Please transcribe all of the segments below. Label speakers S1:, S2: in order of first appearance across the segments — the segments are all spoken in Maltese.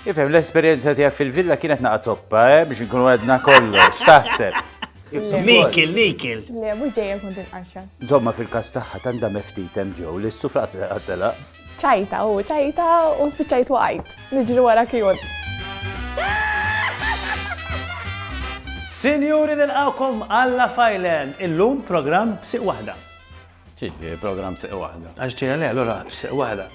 S1: Ifhem, l-esperjenza tiegħek fil-villa kienet naqa' zoppa, eh, biex nkunu għedna kollox, x'taħseb? Nikil,
S2: nikil. Le, mhux
S3: dejjem kont il-qarxa. Zomma fil-każ tagħha
S1: tant da meftit hemm ġew li s-sufra se qattela. ċajta u
S3: ċajta u spiċċajt waqajt. Niġri wara kjun.
S2: Sinjuri nilqawkom għalla fajlen, illum programm b'siq waħda. Ġieli,
S1: program seq waħda. Għax ġeja le, allora
S2: seq waħda.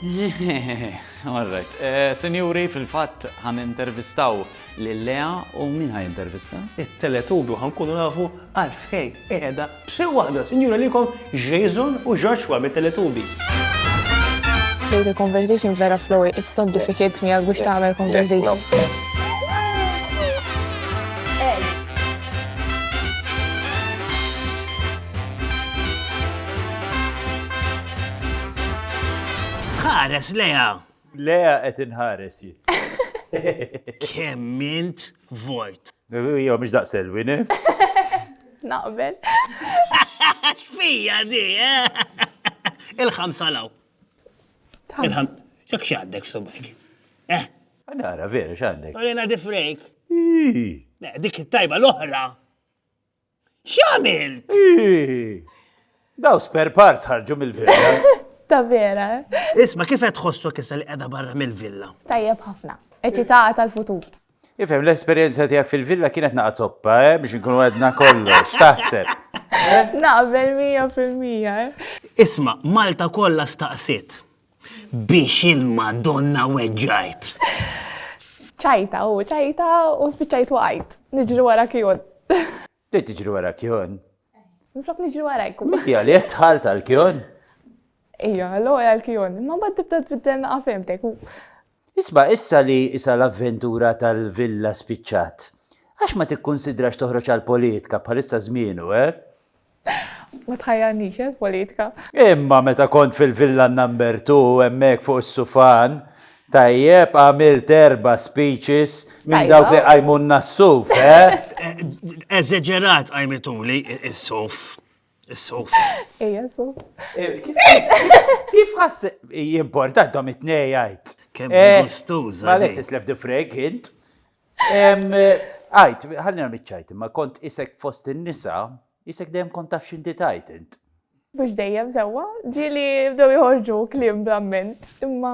S4: All right. Eh, Sinjuri, fil-fatt għan intervistaw l-Lea u min għan intervista? Il-teletubi għan
S2: kunu nafu għalfej eħeda b'seq waħda. Sinjura li kom Jason u Joshua mit-teletubi.
S3: The conversation vera flowy, it's not difficult me għal biex taħmel conversation.
S2: Ħares leja! Leja qed
S1: inħares jien. Kemm
S2: int vojt. Jo, mhux
S1: daqsel win.
S3: Naqbel.
S2: X'fija di, eh? Il-ħamsa law. Il-ħam. Ċak x'għandek f'subek. Eh.
S1: Nara, vera x'għandek. Orina di frejk.
S2: Dik it-tajba l-oħra. X'għamilt?
S1: Daw spare parts ħarġu mill-villa. Ta' vera.
S3: Isma' kif qed
S2: tħossok issa li qiegħda barra mill-villa? Tajjeb ħafna.
S3: Eċitata tal-futur. Ifhem, l-esperjenza
S1: tiegħek fil-villa kienet naqa' toppa, eh, biex inkunu għedna kollox, x'taħseb? Eh? Naqbel
S3: mija fil-mija. Eh? Isma,
S2: Malta kollha staqsiet. Biex il-Madonna weġġajt.
S3: ċajta u ċajta u spiċċajt waqajt. Niġri wara kjon. Trid tiġri
S1: wara kjon? Nflok niġri
S3: wara jkun. Miti għalih tħalt
S1: għal kjon? Ija,
S3: l-għol għal kjon. Ma bad tibda tbiddel naqafemtek. Isma'
S1: issa li isa l-avventura tal-villa spiċċat. Għax ma tikkunsidrax toħroġ għall-politka, bħalissa żmienu, eh?
S3: Ma tħajjarnix, eh, l-politka. Imma meta
S1: kont fil-villa number two, hemmhekk fuq is-sufan, Tajjeb, għamilt erba speeches minn dawk li għajmunna s-suf, eh? Eżeġerat
S2: għajmituli s-suf. Is-suf. Ejja, suf. Eh,
S1: kif ħass jimporta dom it-nej għajt? Kemm eh, gustuża.
S2: Għalek titlef di
S1: frek, int. Għajt, ħallina mitċajt, ma kont isek fost in-nisa, isek dejjem kont taf xinti tajt int. Bux dejjem
S3: sewa, ġili bdew jħorġu klim bl-amment, imma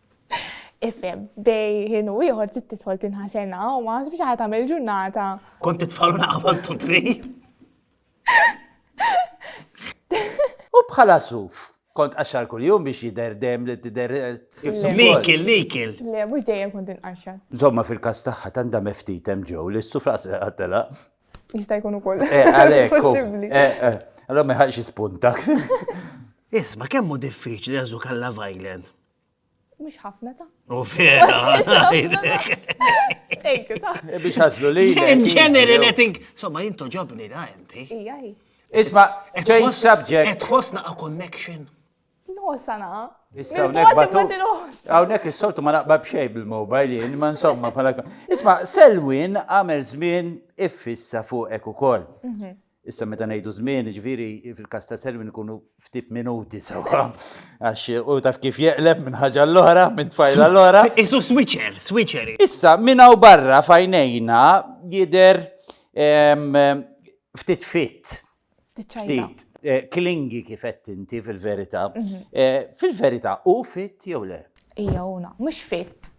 S3: Ifhem, bej ħin u ieħor trid tidħol tinħaserna u ma ħasbx ħadd tagħmel ġurnata. Kont titfalu
S2: naqbad tu tri.
S1: U bħala suf, kont qaxxar kuljum biex jidher dem li tidher eh, kif suppost. Nikil, nikil.
S2: Le, mhux
S3: dejjem kont inqaxxar. Zomma fil-kas tagħha
S1: tanda meftit hemm ġew li s-suf raqs qattela. Jista' jkun
S3: ukoll. Eh, għalhekk. u- Possibbli.
S1: eh,
S3: eh, Allora ma
S1: ħax jispuntak.
S2: Isma, kemmu diffiċli għazu kalla vajlen. Mhux
S3: ħafna ta'. U vera.
S2: Thank
S3: you ta'. E biex ħaslu li.
S1: In general, I
S2: think, somma jinto ġobni da inti. Ija,
S3: Isma,
S1: change subject. Et ħosna a connection.
S2: No, sana.
S3: Issa, unek
S1: batu. Unek il-soltu ma naqbab xej bil-mobile jien, ma insomma, pala. Isma, Selwin għamel zmin iffissa fuqek u koll. Mhm. Issa meta ngħidu żmien, ġifieri fil-każ ta' Selwyn ikunu ftit minuti sewwa. Għax u taf kif jeqleb minn ħaġa l-oħra, minn tfajla l-oħra. Isu switcher,
S2: switcher. Issa minn hawn
S1: barra fajnejna jidher ftit fit. Ftit. Eh, klingi kifet inti fil-verità. Mhm. Eh, fil-verità u fit jew le? Ija una, mhux
S3: fit.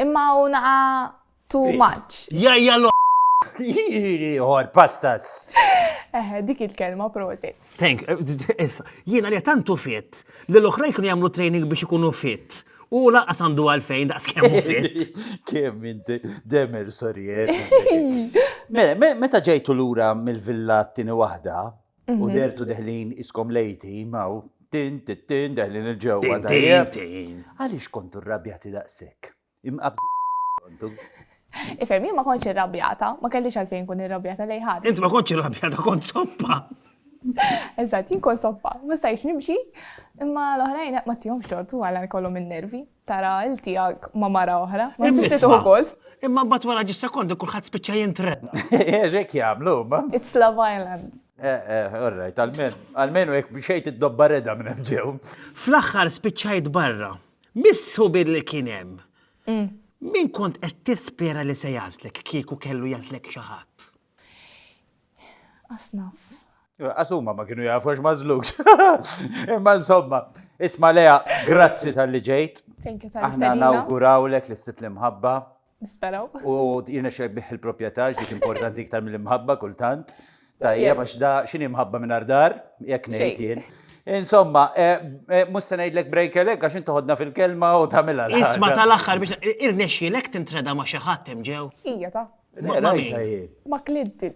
S3: Imma una Too much. Jajja l
S1: Ieħor, pastas. Eħe, dik
S3: il-kelma prosi. Thank,
S2: jiena li tantu fit, li l-oħrajn kienu jagħmlu training biex ikunu fit. U laqas għandu għalfejn daqs kemm fit. Kemm inti
S1: demer sorjer. Mela, meta ġejtu lura mill-villa t-tieni waħda u mhm. dertu deħlin iskom lejti maw tin tin tin deħlin il-ġewwa. Għaliex kontu rrabjati daqshekk? Imqabżin kontu.
S3: Ifhem, jien ma kontx irrabjata, ma kellix għalfejn kun irrabjata lej ħadd. Int ma kontx irrabjata
S2: kont soppa.
S3: Eżatt, jien kont soppa, ma stajx nimxi, imma l-oħrajn ma tihom xortu għal kollhom in-nervi. Tara il tiegħek ma mara oħra, ma tista' tuħu gost. Imma mbagħad wara ġis
S2: sekondu kulħadd spiċċa jintredda. Eżek eh, jagħmlu,
S1: ma. It's Love Island.
S3: Eh, eh,
S1: alright, għalmenu jek bxejt id-dobba reda minn ġew. Fl-axħar
S2: spiċċajt barra. Missu billi kien hemm. Mm. Min kont qed tispera li se jażlek kieku kellu jażlek xi ħadd?
S3: Asnaf. Asuma ma
S1: kienu jafu ma zlux. Imma insomma, isma leja, grazzi tal-li ġejt. Aħna
S3: nawgurawlek li s-sib
S1: l-imħabba. Nisperaw.
S3: U jirnexxek
S1: biħ il-proprjetà x'dik importanti iktar mill-imħabba kultant. Tajjeb għax da x'inhi mħabba mingħajr dar, jekk ngħid jien. Insomma, eh, eh, mhux se ngħidlek break elek għax inti ħodna fil-kelma u tagħmilha l Isma tal-aħħar biex
S2: irnexxielek tintreda ma' xi ħadd hemm ġew. Hija
S3: ta'.
S1: Ma' Clinton.